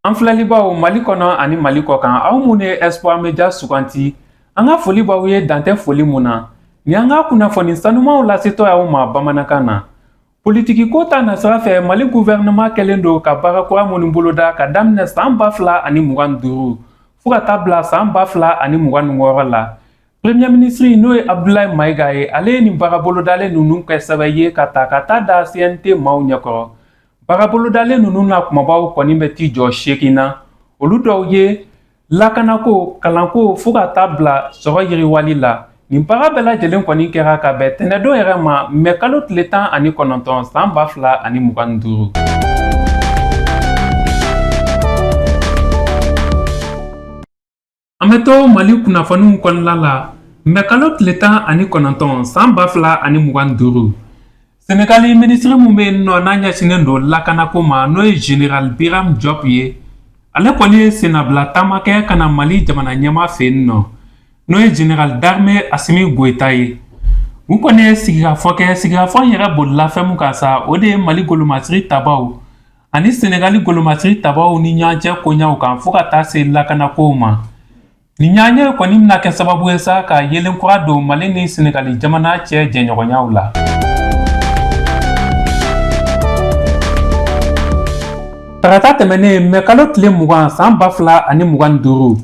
An filɛlibaaw Mali kɔnɔ ani Mali kɔkan aw minnu ye Espoir Media suganti an ka foli b'aw ye dan tɛ foli mun na ni an ka kunnafoni sanumanw lasetɔ y'aw ma bamanankan na Politiki ko ta nasira fɛ mali gouvernement kɛlen don ka baara kura minnu boloda ka daminɛ san ba fila ani mugan ni duuru fo ka taa bila san ba fila ani mugan ni wɔɔrɔ la premier ministre n'o ye abdulayi mayiga ye ale ye nin baara bolodalen ninnu kɛ sɛbɛn ye ka ta ka taa da cnt maaw ɲɛkɔrɔ baara bolodalen ninnu na kunbabaw kɔni bɛ t'i jɔ seegin na olu dɔw ye Lakanako kalanko fo ka taa bila sɔrɔ yiriwali la nin baara bɛɛ lajɛlen kɔni kɛra ka bɛn tɛnɛdon yɛrɛ ma mɛ kalo tile tan ani kɔnɔntɔn san ba fila ani mugan ni duuru an bɛ to mali kunnafoniw kɔnɔna la mɛ kalo tile tan ani kɔnɔntɔn san ba fila ani mugan ni duuru Senegali minisiri min bɛ yen nɔ n'a ɲɛsinnen don lakanako ma n'o ye General Biram Diop ye ale kɔni ye sennabila taama kɛ ka na Mali jamana ɲɛmaa fɛ yen nɔ n'o ye General d'armée Assimi Goïta ye u kɔni ye sigikafɔ kɛ sigikafɔ in yɛrɛ bolila fɛn min kan sa o de ye Mali golomasiri tabaw ani Senegali golomasiri tabaw ni ɲɔgɔn cɛ koɲɛw kan fo ka taa se lakanakow ma Nin ɲɔgɔnye kɔni bɛna kɛ sababu ye sa ka yeelen kura don Mali ni Senegali jamana cɛ jɛɲɔgɔnyaw la. Tarata tɛmɛnen mɛ kalo tile mugan san ba fila ani mugan ni duuru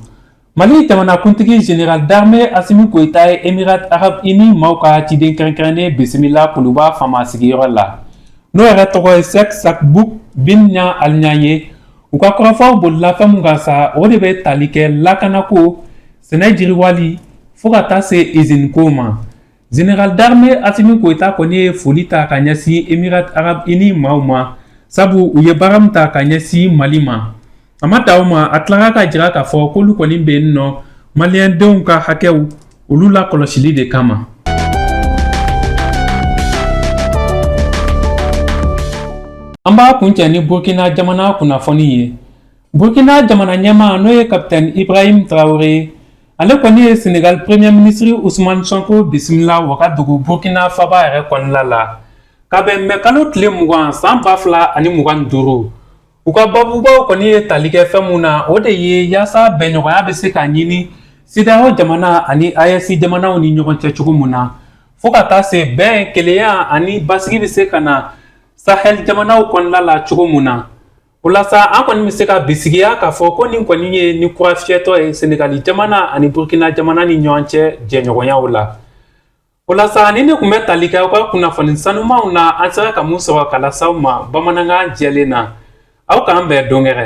Mali jamanakuntigi General d'armée Assimi Goïta ye Emirats Arabes Unis maaw ka ciden kɛrɛnkɛrɛnnen bisimila Kuluba faama sigiyɔrɔ la, n'o yɛrɛ tɔgɔ ye Cheikh Shakhbout bin Nahyan Al Nahyan ye, u ka kɔrɔfɔw bolila fɛn mun kan sa o de bɛ tali kɛ lakanako sɛnɛ jiriwali fo ka taa se izini ko ma General d'armée Assimi Goïta kɔni ye foli ta ka ɲɛsin Emirats Arabes Unis maaw ma sabu u ye baara min ta ka ɲɛsin Mali ma a ma dan o ma a tilara ka jira k'a fɔ k'olu kɔni bɛ yen nɔ maliyɛndenw ka hakɛw Olu lakɔlɔsili de kama. An b'a kuncɛ ni Burkina jamana kunnafoni ye. Burkina jamana ɲɛmaa n'o ye Capitaine Ibrahim Traoré, ale kɔni ye Senegal Premier ministre Ousmane Sonko bisimila Wagadugu Burkina faba yɛrɛ kɔnɔna la. Ka bɛn mɛ kalo tile mugan san ba fila ani mugan ni duuru U ka babubaw kɔni ye tali kɛ fɛn mun na o de ye yaasa bɛnɲɔgɔnya bɛ se ka ɲini CEDEAO jamana ani AES jamanaw ni ɲɔgɔn cɛ cogo mun na fo ka taa se bɛn kelenya ani basigi bɛ se ka na Sahel jamanaw kɔnɔna la cogo mun na o la sa an kɔni bɛ se ka bisigiya k'a fɔ ko nin kɔni ye ni kura fiyɛtɔ ye Senegali jamana ani Burkina jamana ni ɲɔgɔn cɛ jɛɲɔgɔnyaw la. O la sa ninnu tun bɛ tali kɛ aw ka kunnafoni sanumanw na an sera ka mun sɔrɔ ka las'aw ma bamanankan jɛlen na aw k'an bɛn don wɛrɛ